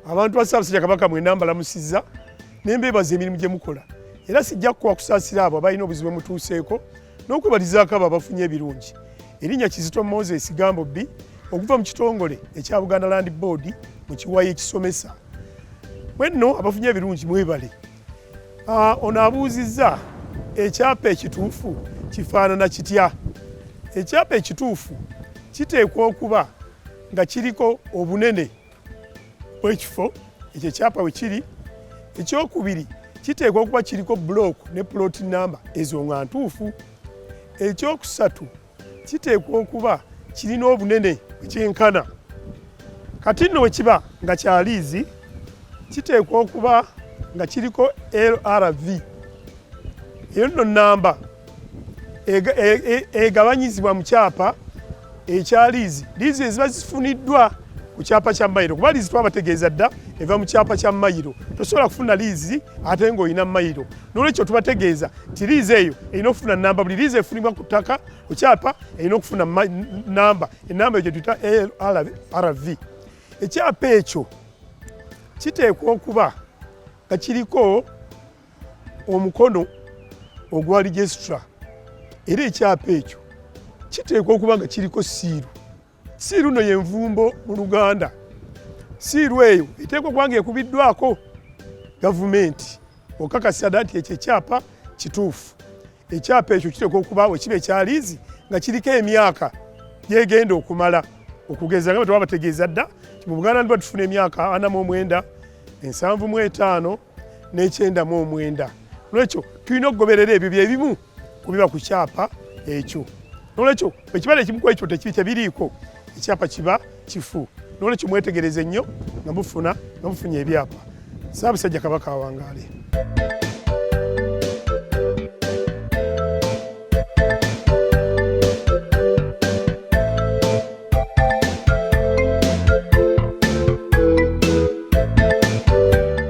abantu ba ssaabasajja kabaka mwena mbalamusizza ne mbeebaza emirimu gye mukola era sijja kukowa kusaasira abo abalina obuzibu mutuuseeko n'okwebalizaako abo abafunye ebirungi erinnya kizito moses gambo bbi okuva mu kitongole ekya buganda land board mu kiwayi ekisomesa mwenno abafunye ebirungi mwebale ah, ono abuuzizza ekyapa ekituufu kifaanana kitya ekyapa ekituufu kiteekwa okuba nga kiriko obunene w'ekifo ekyo ekyapa we kiri ekyokubiri kiteekwa okuba kiriko bulooku ne pulooti namba ezo nga ntuufu ekyokusatu kiteekwa okuba kirina obunene ekyenkana kati nno bwe kiba nga kyaliizi kiteekwa okuba nga kiriko lrv eyo nno namba e, e, egabanyizibwa mu kyapa ekya liizi liizi eziba zifuniddwa ku kyapa kya mayiro kuba liizi twabategeeza dda eva mu kyapa kya mayiro tosobola kufuna liizi ate ng'olina mayiro nolwekyo tubategeeza nti liizi eyo erina okufuna namba buli liizi efunibwa ku ttaka ku kyapa erina okufuna namba enamba eyo gyetuyita lrv ekyapa ekyo kiteekwa okuba nga kiriko omukono ogwa registra era ekyapa ekyo kiteekwa okuba nga kiriko siiru siiru no yenvumbo mu luganda siiru eyo eteekwa okuba nga ekubiddwako gavumenti okakasa da nti ekyo ekyapa kituufu ekyapa ekyo kiteekwa okuba wekiba ekyaliizi nga kiriko emyaka gyegenda okumala okugeza nga bwe twabategeeza dda mu buganda ndiba tufuna emyaka ana mu omwenda ensanvu mu etaano n'ekyendamu omwenda nolwekyo tulina okugoberera ebyo byebimu kubiba ku kyapa ekyo nolwekyo ekibala ekimu ku ekyo tekibi tebiriiko ekyapa kiba kifu nolwekyo mwetegereze nnyo nga mufuna nga mufunye ebyapa saabasajja kabaka awangaale